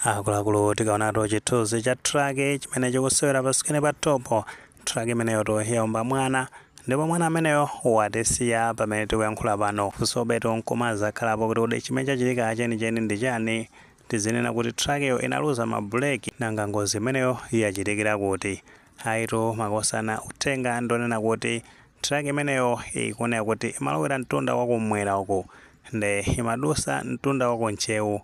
akuluakulu tikaonatu chithunzi cha traki chimene chikusewera pasikirini pathupo traki imeneyotu yaomba mwana ndipo mwana ameneyo watisiya pamene tikuyankhula pano funsobetu nkumazakhalapo kuti kodi chimene chachitika chenicheni ndi chani tizinena kuti trakiyo inaluza mabuleki nanga ngozi imeneyo yachitikira kuti ayitu makosana uthenga ndonena kuti traki imeneyo ikuoneka kuti imalowera mtunda wakumwera uku nde imadusa mtunda waku Ntcheu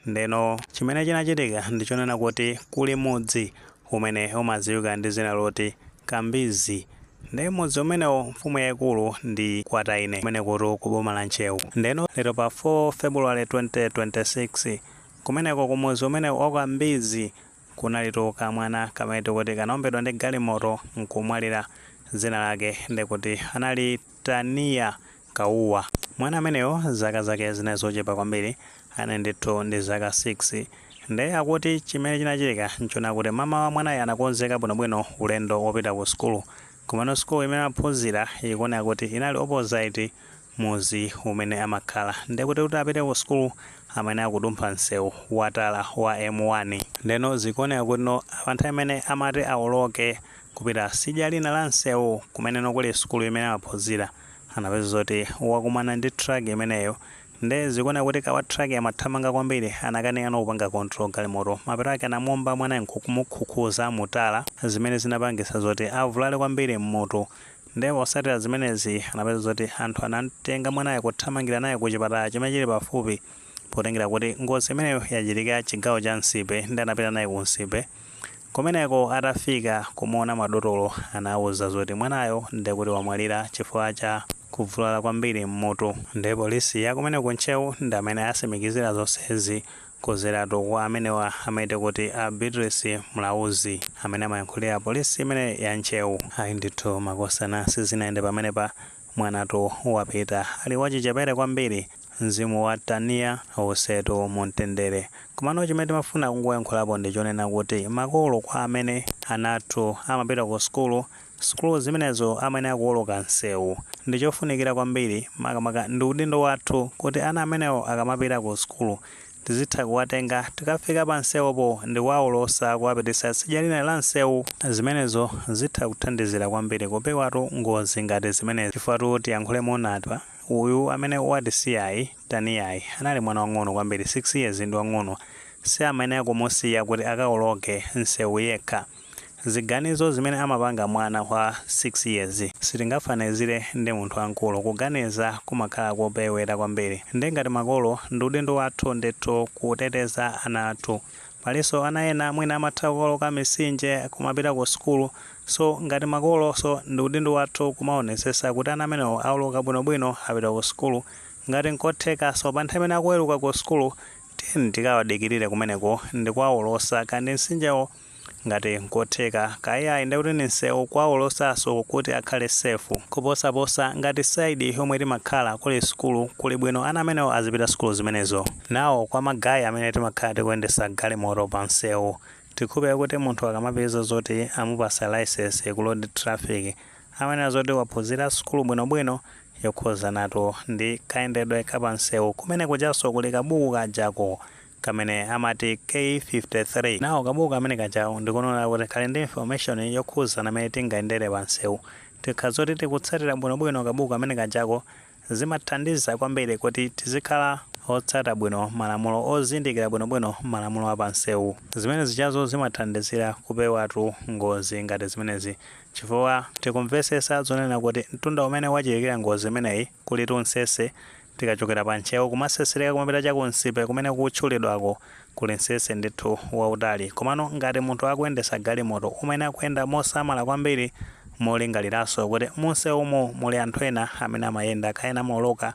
Ndeno chimene chinachitika ndi chonena kuti kuli mudzi umene umadziwika ndi dzina loti Kambizi ndi m'mudzi umenewo mfumu yaikulu ndi Kwataine kumenekutu ku boma la Ntcheu. Ndeno lero pa 4 February 2026 kumeneko ku mudzi umenewu wa Kambizi kunalitu kamwana kamene tikuti kanaombedwa ndi galimoto nkumwalira dzina lake ndekuti anali Tania Kauwa. Mwana ameneyo zaka zake zinali zochepa kwambiri. Anali ndithu ndi zaka 6. Ndiye akuti chimene chinachitika n'chonena kuti mamawa mwanayo anakonzeka bwinobwino ulendo wopita kusukulu. Komano sukulu imene amaphunzira ikuoneka kuti inali opposite mudzi umene amakhala. Ndiye kuti kuti apite kusukulu amayenera kudumpha msewu watala wa M1. Ndiyeno zikuoneka kutino pa nthawi imene amati awoloke kupita tsidya lina la msewu kumene no kuli sukulu imene amaphunzira, anapeza zoti wakumana ndi truck imeneyo nde zikuoneka kuti mkulu wa truck amathamanga kwambiri anakanika no kupanga control galimoto, mapeto ake anamuomba mwanayo nkumukhukhuza mu tala zimene zinapangitsa zoti avulale kwambiri mmutu nde potsatira zimenezi anapeza zoti anthu anamtenga mwanayo kuthamangira naye ku chipatala chimene chili pafupi potengera kuti ngozi imeneyo yachitikira chigawo cha Nsipe nde anapita naye ku Nsipe kumeneko atafika kumuona madotolo anawauza zoti mwanayo ndekuti wamwalira chifukwa cha kuvulala kwambiri m'mutu nde polisi ya kumene ku Ntcheu ndi imene yatsimikizira zonsezi kudzeratu kwa amenewa amati kuti a Beatrice Mlauzi amene amayankhulira polisi imene ya Ntcheu. Ayi ndithu makosana sizinayende pamenepa mwanatu wapita ali wachichepere kwambiri. Mzimu wa Tania uwusetu mu mtendere. Komano chimene timafuna kungoyankhulapo ndi chonena kuti makolo kwa amene ana athu amapita ku sukulu, sukulu zimenezo amayenera kuwoloka msewu. Ndi chofunikira kwambiri, makamaka ndi udindo wathu kuti ana amenewo akamapita ku sukulu tizitha kuwatenga tikafika pa msewupo ndi kuwawolotsa kuwapititsa tsidya lina la msewu. Zimenezo zitha kuthandizira kwambiri kupewatu ngozi ngati zimenezi. Chifukwa tu tiyankhule moona apa, Uyu amene watisiyayi, Taniyayi, anali mwana wang'ono kwambiri, 6 years ndi wang'ono, si amayenera kumusiya kuti akawoloke nsewu yekha. Ziganizo zimene amapanga mwana wa 6 years sitingafanizire ndi munthu wamkulu, kuganiza kumakhala kopewera kwambiri. Ndiye ngati makolo, ndi udindo wathu ndithu kuteteza ana athu. Palinso ana ena mwina amatha kuwoloka mitsinje kumapita ku sukulu, So ngati makoloso ndi udindo wathu kumaonesesa kuti ana amenewo awoloka bwino bwino apita ku sukulu ngati nkothekaso pa nthawi imene akuweluka ku sukulu tiyeni tikawadikilile kumeneko ndikuwaolosa kaya ndi nsinjewo ngati nkotheka kaya iyayi ndiye kuti ndi nsewu kuwaolosaso kuti akhale safe. Kuposa posa ngati side yomwe timakhala kuli sukulu kuli bwino ana amenewo azipita sukulu zimenezo. Now kwa ma guy amene timakhala tikuyendesa galimoto pa nsewu Tikhulupirira kuti munthu akamapeza zoti amupasa licence ku road traffic amaona zoti waphunzira sukulu bwino bwino yokhuzanatu ndi kayendedwe ka pa nseu kumene kujaso kuli kabuku kajako kamene amati K53 now kabuku kamene kajako ndikunena kuti kali ndi information yokhuzana mene tingayendere pa nseu tikha zoti tikutsatira bwino bwino kabuku kamene kajako Zimathandiza kwambiri kuti tizikhala otsata bwino malamulo ozindikira bwinobwino malamulo a pamsewu. Zimene zijazo zimathandizira kupewatu ngozi ngati zimenezi chifukwa tikumvetsetsa zonena kuti mtunda umene wachitikira ngozi imeneyi kulitu mtsetse, tikachokera pa Ntcheu kumatsetsereka kumapita cha ku Nsipe kumene kukutchulidwako Kuli nsese ndithu wautali. Komano ngati munthu akuyendetsa galimoto umayenera kuyenda mosamala kwambiri molingaliranso kuti munsewumo muli anthu ena amene amayenda kaya amaoloka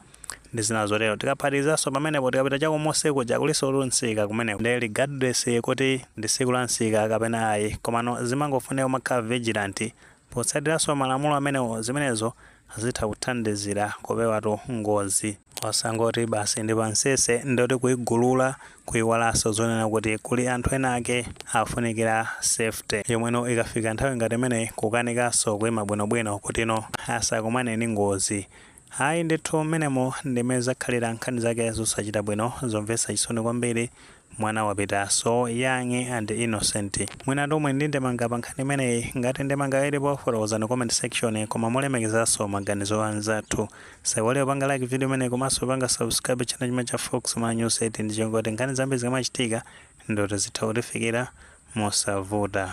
ndi zina zotero. Tikaphatikizanso pamenepo tikapita chakumusi kuja kulinsotu msika kumeneko nde regardless kuti ndi tsiku la msika kapena ayi komano zimangofunika kumakhala vigilant potsatiranso malamulo amenewo zimenezo zitha kuthandizira kupewatu ngozi. Osangoti basi ndi pa nsese ndiye kuti kuigulula kuiwalanso zonena kuti kuli anthu ena ake afunikira safety yomweyo ikafika nthawi ngati imeneyi kukanikanso kuima bwinobwino kutino asakumane ndi ngozi. Ayi ndithu mmenemo ndimene zakhalira nkhani zake zosachita bwino zomvetsa chisoni kwambiri Mwana wapita so young and innocent. Mwina tonse tili ndi ndemanga pa nkhani imeneyi. Ngati ndemanga ilipo fotokozani mu comment section koma molemekezanso maganizo a anzathu. Musaiwale kupanga like video imeneyi komanso kupanga subscribe channel chimene cha Fox Malawi News 8 ndi chongoti nkhani zambiri zikamachitika ndikuti zitha kutifikira mosavuta.